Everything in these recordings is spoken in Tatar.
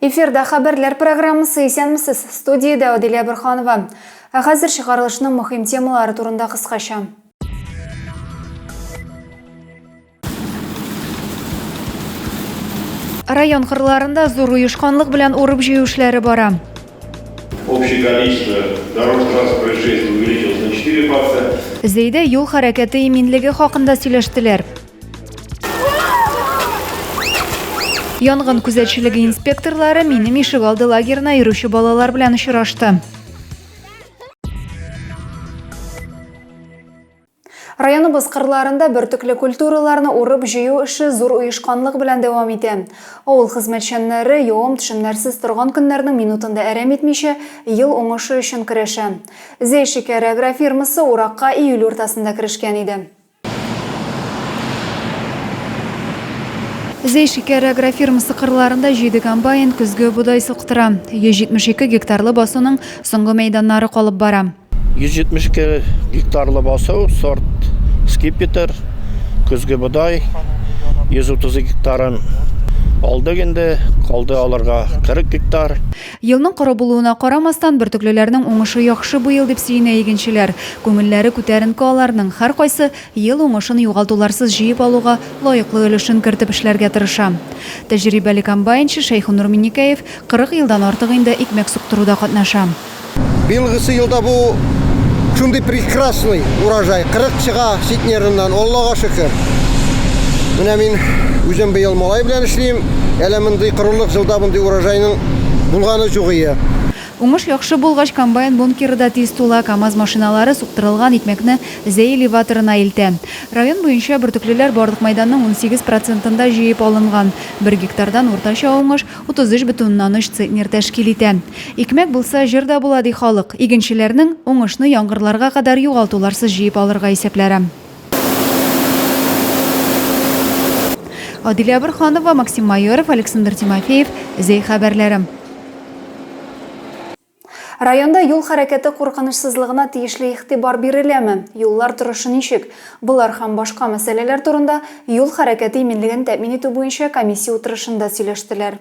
Эфирда хәбәрләр программасы исәнмесез. Студиядә Аделя Бөрханова. Ә хәзер чыгарылышның мөһим темалары турында кыскача. Район кырларында зур оешканлык белән урып җыю эшләре бара. Общее количество дорожно-транспортных происшествий увеличилось на 4 факта. Зәйдә юл хәрәкәте иминлеге хакында сөйләштеләр. Янгын күзәтчелеге инспекторлары минем ишек алды лагерына йөрүче балалар белән очрашты. Районыбыз кырларында бөртекле культураларны урып җыю эше зур оешканлык белән дәвам итә. Авыл хезмәтчәннәре юым төшемнәрсез торган көннәрнең минутында әрәм итмичә, ел уңышы өчен көрәшә. Зейшикәр агрофирмасы уракка июль уртасында керешкән иде. Зәй шикәр агрофирмасы кырларында җиде комбайн көзге бодай сылктыра. 172 гектарлы басуның соңгы мәйданнары калып бара. 172 гектарлы басу сорт скипетр, көзге бодай 132 гектарын алдык инде, калды алырга 40 гектар. Елның коры булуына карамастан, бөртеклеләрнең уңышы яхшы бу ел, дип сөенә игенчеләр. Күңелләре күтәренке аларның, һәркайсы ел уңышын югалтуларсыз җыеп алуга лаеклы өлешен кертеп эшләргә тырыша. Тәҗрибәле комбайнчы Шәйхунур Миннекәев 40 елдан артык инде икмәк суктыруда катнаша. Быелгысы елда бу шундый прекрасный урожай, 40 чыга ситнерыннан, Аллага шөкер. Менә мин үзем быел малай белән эшлим. Әле мондый корылык җылда мондый урожайның булганы җугые. Уңыш яхшы булгач, комбайн бункеры да тиз тула, КАМАЗ машиналары суктырылган икмәкне Зәй элеваторына илтә. Район буенча бөртеклеләр барлык мәйданның унсигез процентында җыеп алынган. Бер гектардан уртача уңыш 33,3 центнер тәшкил итә. Икмәк булса, җыр да була, ди халык. Игенчеләрнең, уңышны яңгырларга кадәр югалтуларсыз җыеп алырга исәпләре. Адилә Борханова, Максим Майоров, Александр Тимофеев, Зәй хәбәрләре. Районда юл хәрәкәте куркынычсызлыгына тиешле игътибар биреләме? Юллар торышы ничек? Болар һәм башка мәсьәләләр турында юл хәрәкәте иминлеген тәэмин итү буенча комиссия утырышында сөйләштеләр.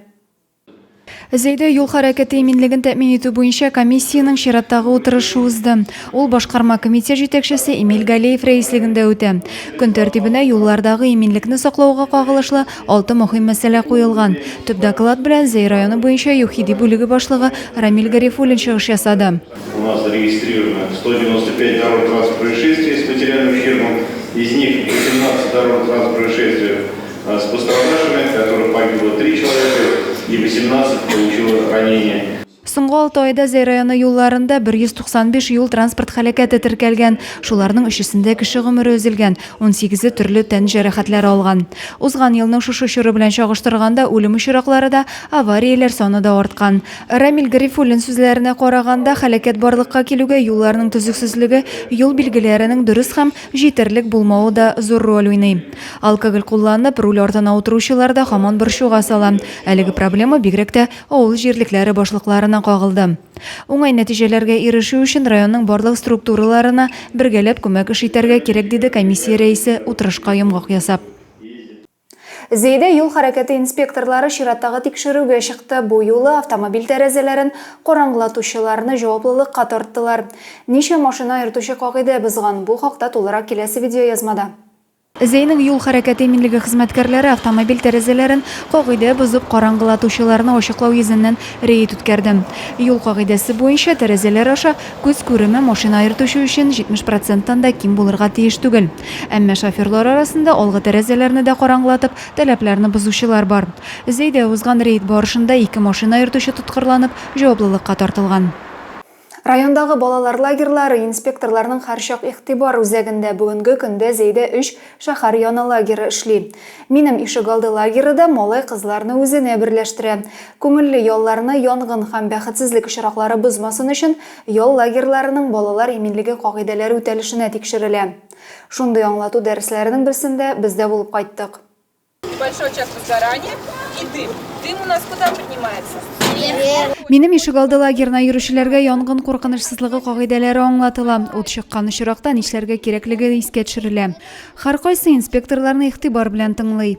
Зәйдә юл хәрәкәте иминлеген тәэмин итү буенча комиссиянең чираттагы утырышы узды. Ул башкарма комитет җитәкчесе Эмиль Галеев рәислегендә үтә. Көн тәртибенә юллардагы иминлекне саклауга кагылышлы алты мөһим мәсьәлә куелган. Төп доклад белән Зәй районы буенча ЮХИДИ бүлеге башлыгы Рамил Гарифуллин чыгыш ясады. У нас зарегистрировано 195 дорожно-транспортных происшествий с материальным ущербом, из них 18 дорожно-транспортных происшествий С пострадавшими, которых погибло три человека и восемнадцать получило ранения. Соңгы алты айда Зәй районы юлларында 195 юл-транспорт һәлакәте теркәлгән. Шуларның өчесендә кеше гомере өзелгән, 18-е төрле тән җәрәхәтләре алган. Узган елның шушы чоры белән чагыштырганда үлем очраклары да, аварияләр саны да арткан. Рамил Гарифуллин сүзләренә караганда, һәлакәт барлыкка килүгә юлларның төзексезлеге, юл билгеләренең дөрес һәм җитәрлек булмавы да зур роль уйный. Алкоголь кулланып, руль артына утыручылар да һаман борчуга сала. Әлеге проблема бигрәк тә авыл җирлекләре башлыкларына кагылды. Уңай нәтиҗәләргә ирешү өчен районның барлык структураларына бергәләп күмәк эш итәргә кирәк, диде комиссия рәисе, утырышка йомгак ясап. Зәйдә юл хәрәкәте инспекторлары чираттагы тикшерүгә чыкты. Бу юлы автомобиль тәрәзәләрен караңгылатучыларны җаваплылыкка тарттылар. Ничә машина йөртүче кагыйдә бозган? Бу хакта тулырак киләсе видеоязмада. Зәйнең юл хәрәкәте иминлеге хезмәткәрләре автомобиль тәрәзәләрен кагыйдә бозып караңгылатучыларны ачыклау йөзеннән рейд үткәрде. Юл кагыйдәсе буенча, тәрәзәләр аша күз күреме машина йөртүче өчен 70 проценттан да ким булырга тиеш түгел. Әмма шоферлар арасында алгы тәрәзәләрне дә караңгылатып, таләпләрне бозучылар бар. Зәйдә узган рейд барышында ике машина йөртүче тоткарланып, җаваплылыкка тартылган. Райондагы балалар лагерьлары инспекторларның һәрчак игътибар үзәгендә Бүгенге көндә Зәйдә өч шәһәр яны лагеры эшли. Минем ишегалды лагеры да малай-кызларны үзенә берләштерә. Күңелле ялларны янгын һәм бәхетсезлек очраклары бозмасын өчен, Ял лагерьларының балалар иминлеге кагыйдәләре үтәлешенә тикшерелә. Шундый аңлату дәресләренең берсендә без дә булып кайттык. Большой час без заранее и дым. Дым у нас куда поднимается? Вверх. Минем ишегалды лагерена йөрүчеләргә янгын куркынычсызлыгы кагыйдәләре аңлатыла, ут чыккан очракта нишләргә кирәклеге искә төшерелә. Һәркайсы инспекторларны игътибар белән тыңлый.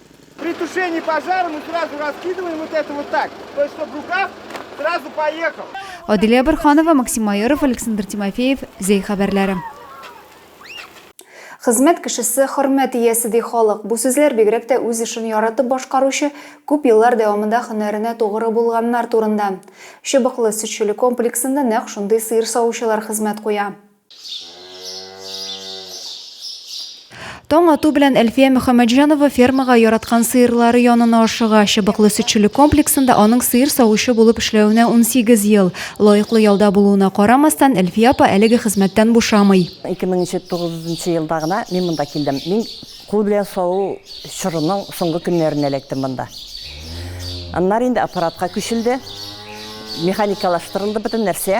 При тушении пожара мы сразу раскидываем вот это вот так, то есть чтобы рукав сразу поехал. Адилия Барханова, Максим Майоров, Александр Тимофеев, Зей хәбәрләре. Хезмәт кешесе хөрмәт иясе ди халык. Бу сүзләр бигрәк тә үз эшен яратып башкаручы, күп еллар дәвамында һөнәренә тугры булганнар турында. Чыбыклы сөтчелек комплексында нәкъ шундый сыер савучылар хезмәт куя. Таң ату белән Әлфия Мөхәммәтҗанова фермага яраткан сыерлары янына ашыга. Чыбыклы сөтчелек комплексында аның сыер савучы булып эшләвенә 18 ел. Лаеклы ялда булуына карамастан, Әлфия апа әлеге хезмәттән бушамый. 2009 елда гына мин монда килдем. Мин кул белән саву чорының соңгы көннәрендә эләктем монда. Аннары инде аппаратка күчелде, механикалаштырылды бөтен нәрсә.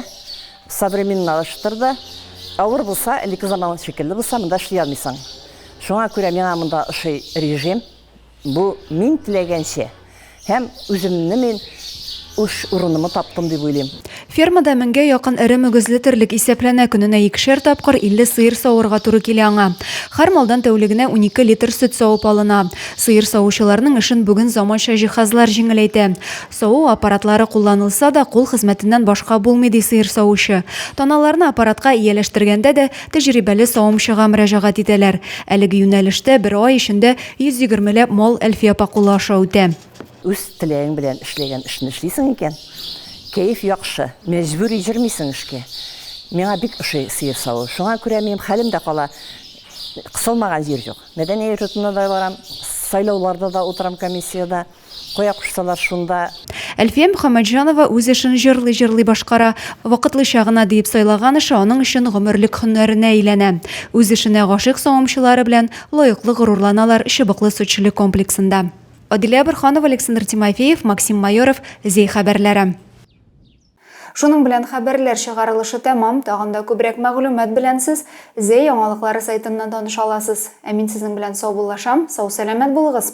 Современналаштыр да. Авыр булса, элекке заман шикелле булса, монда эшли алмыйсың. Шуңа күрә миңа монда ошый режим. Бу мин теләгәнчә һәм үземне мин үз урынымны таптым дип уйлыйм. Фермада меңгә якын эре мөгезле терлек исәпләнә, көненә икешәр тапкыр 50 сыер савырга туры килә аңа. Һәр малдан тәүлегенә унике литр сөт савып алына. Сыер савучыларның эшен бүген заманча җиһазлар җиңеләйтә. Саву аппаратлары кулланылса да, кул хезмәтеннән башка булмый, ди сыер савучы. Таналарны аппаратка ияләштергәндә дә тәҗрибәле савымчыга мөрәҗәгать итәләр. Әлеге юнәлештә бер ай эчендә 120 ләп мал Әлфия апа кулы аша үтә. Үз теләгең белән эшләгән эшне эшлисең икән, кәеф яхшы, мәҗбүри йөрмисең эшкә. Миңа бик ошый сыер саву. Шуңа күрә минем хәлем дә кала, кысылмаган җир юк. Мәдәни йортына да барам, сайлауларда да утырам комиссиядә. Кая кушсалар, шунда. Әлфия Мөхәммәтҗанова үз эшен җырлый-җырлый башкара. Вакытлыча гына диеп сайлаган эше аның өчен гомерлек һөнәренә әйләнә. Үз эшенә гашыйк савымчылары белән лаеклы горурланалар Чыбыклы сөтчелек комплексында. Адилә Борханова, Александр Тимофеев, Максим Майоров, Зәй хәбәрләре. Шуның белән хәбәрләр чыгарылышы тәмам, тагын да күбрәк мәгълүмат белән сез Зәй яңалыклары сайтыннан таныша аласыз. Ә мин сезнең белән саубуллашам, сау-сәламәт булыгыз!